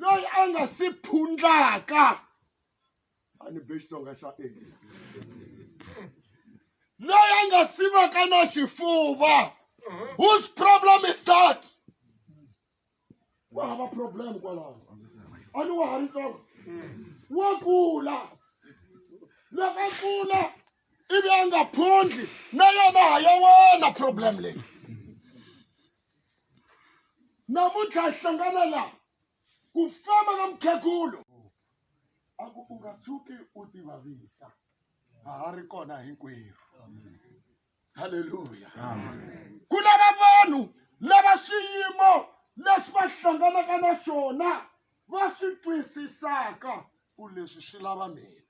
loyi a nga si phundlaka a ni be xitsonga xa e loyi a nga si vaka na xifuva whose problem is that wa hava problem kwalaho a ni wa ha ri ntsongo wa kula loko a kula ivi a nga phundli na yona ha ya wena problem leyi namuntlha hi hlangana la ku famba ka mukhegulu a ku u nga tshuki u tivavisa a ha ri kona hinkwerhu halleluya ku lava vanhu lava swiyimo leswi va hlanganaka na swona va swi twisisaka ku leswi swi lava mina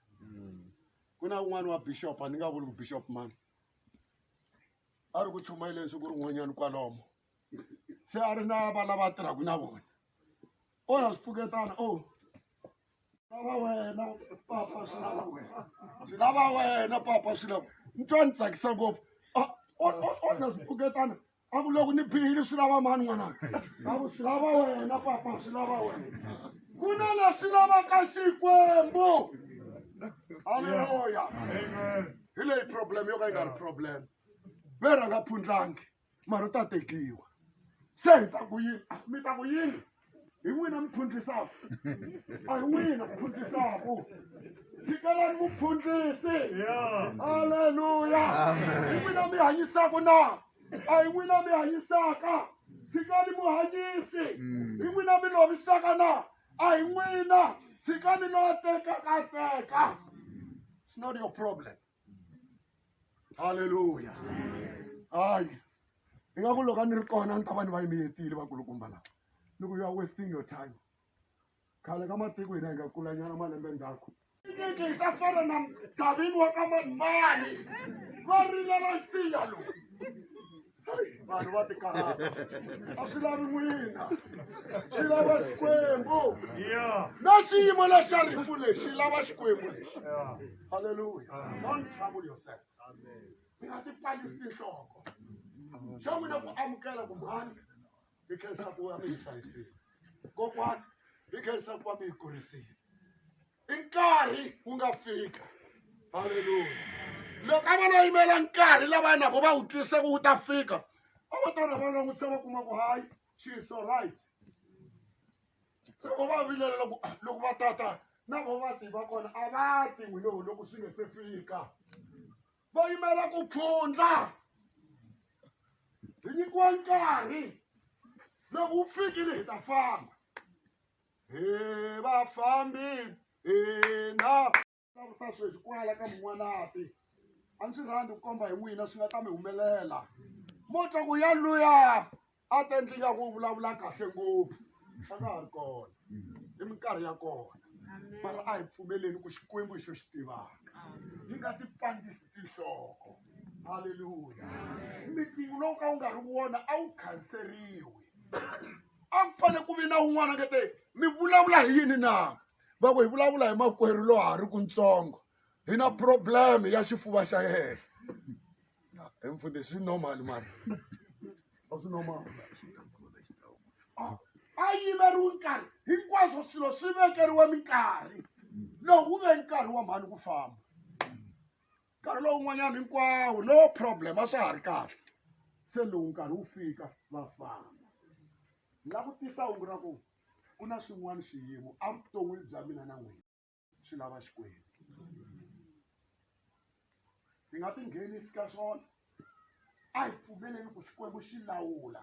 ku na un'wana wa bishop a ni nga vuli ku bishop mani a ri ku chumayeleni siku rin'wanyani kwalomo se a ri na va lava a tirhaku na vona o na swi pfuketana o lava wena papa swi lava wena swi lava wena papa swi lava ni twa ni tsakisa ngopfu o na swi pfuketana a ku loko ni bihile swi lava mani n'wananga a ku swi lava wena papa swi lava wena ku na leswi lavaka xikwembu haleluya hi leyi problem yo ka yi nga ri problem ve rhanga phundlangi mara u ta tekiwa se hi ta ku yini mi ta ku yini hi n'wina mi phundlisaka a hi n'wina mi phundlisaka tshikelani muphundlisi halleluya hi n'wina mi hanyisaka na a hi n'wina mi hanyisaka tshikani muhanyisi mm. hi n'wina mi lovisaka na a hi n'wina tshikani lowa tekaka teka It's not your problem. Hallelujah. Hayi. Hi nga ku loko a ni ri kona ni ta va ni va yimeletile vakulukumba lava. Ni ku you are wasting your time. Khale ka matiko hina hi nga kulanyana malembe ndzhaku. Nyeke hi ta fana na mdavini wa ka manimani. Va rilela nsinya lowu. vanhu va tikarhata a swi lavi n'wina swi lava xikwembu na xiyimo lexa rifu lexi xi lava xikwembu lexi halleluya don't trouble yourself mi nga ti palisi tinhloko xa n'wina ku amukela ku mhani hi khensa ku va mi hi hlayisile kokwani hi khensa ku va mi hi kurisile i nkarhi wu nga fika halleluya loko a va lo yimela nkarhi lava na vo va wu twise ku wu ta fika a va ta na va langutisa va kuma ku hayi she is so right se vo va vilela loko ah, loko va tata na vo va tiva kona a va ti n'wi lowu loko swi nge se fika va yimela ku pfundla hi nyikiwa nkarhi loko wu fikile hi ta famba hi vafambi hina lavusa sweswi kwala ka mun'wanati a ndzi rhandi ku komba hi n'wina swi nga ta mi humelela mo twa ku ya luya a ta endli nga ku vulavula kahle ngopfu a nga ha ri kona hi minkarhi ya kona mara a hi pfumeleni ku xikwembu hi xo xi tivaka yi nga ti pandisi tinhloko halleluya mitingu lowu ka wu nga ri wona a wu khanseriwi a ku fanele ku vi na un'wana nge te mi vulavula hi yini na va ku hi vulavula hi makwerhu lowa ha ri kuntsongo hi na problem ya xifuva xa yena hi mfundhisi swi normal mara a swi normal a yimeriwi nkarhi hinkwaswo swilo swi vekeriwe minkarhi lowu wu ve nkarhi wa mhani ku famba nkarhi lowun'wanyana hinkwawo no problem a swa ha ri kahle se lowu nkarhi wu fika va famba la ku tisa hungu ra ku ku na swin'wana swiyimo evuton'wini bya mina na n'wina swi lava xikwembu hi nga tinghenisi ka swona a hi pfumeleni ku xikwembu xi lawula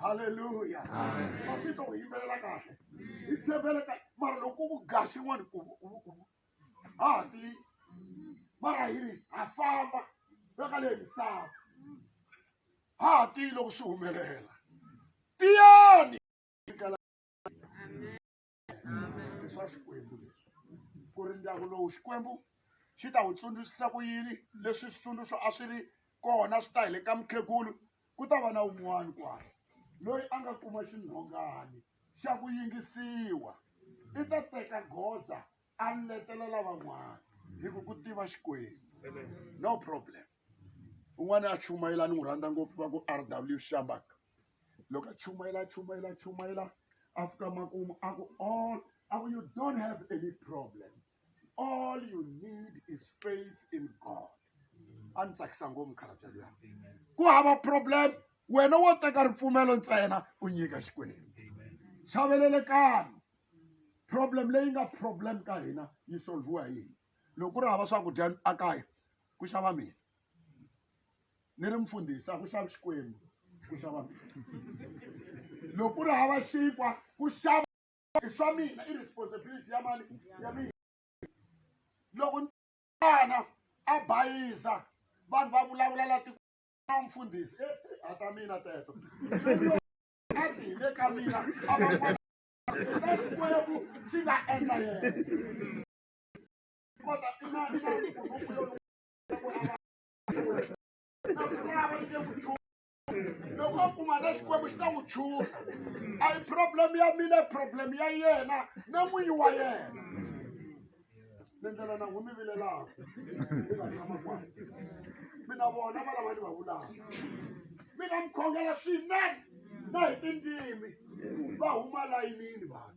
haleluya masito u yimbelela kahle hi tshembele ka mara loko ku ga xin'wana ku ku ku ha ha ti mara hi ri ha famba veka leyi misava ha ha tiyi loko swi humelela tiyani leswa xikwembu leswi ku ri ndyangu lowu xikwembu xi ta wu tsundzuxisa ku yini leswi switsundzuxo a swi ri kona swi ta hi le ka mukhegulu ku ta va na un'wana kwalo loyi a nga kuma xinhongani xa ku yingisiwa i ta teka goza a letela lavan'wana hi ku ku tiva xikwembu no problem un'wana a chumayela ni n'wi rhandza ngopfu va ku r w shambaka loko a chumayela a chumayela a chumayela a fika makumu a ku all a ku you don't have any problem all you need is faith in god a ni tsakisa ngopfu mukhalabya luya ku hava problem wena wo teka ripfumelo ntsena u nyika xikwembu chavelelekani problem leyi nga problem ka hina yi solviwa hi yini loko ku ri hava swakudya a kaya ku xava mina ni ri mfundhisi a ku xavi xikwembu ku xava loko ku ri hava xinkwa ku xava i swa mina i responsibility ya mani ya mina loko nana a bayiza vanhu va vulavula la tiko na mfundhisi e a ta mina teto a ti hi le ka mina a va ta xikwembu xi nga endla yena kota i na i na loko a kuma na xikwembu xi ta n'wi chula a yi problem ya mina i problem ya yena na n'winyi wa yena ni ndlela na n'wi mi vilelaka mi nga tshama kwani mina vona va lava ni va vulaka mi nga mi khongela swinene na hi tindzimi va huma layinini vanhu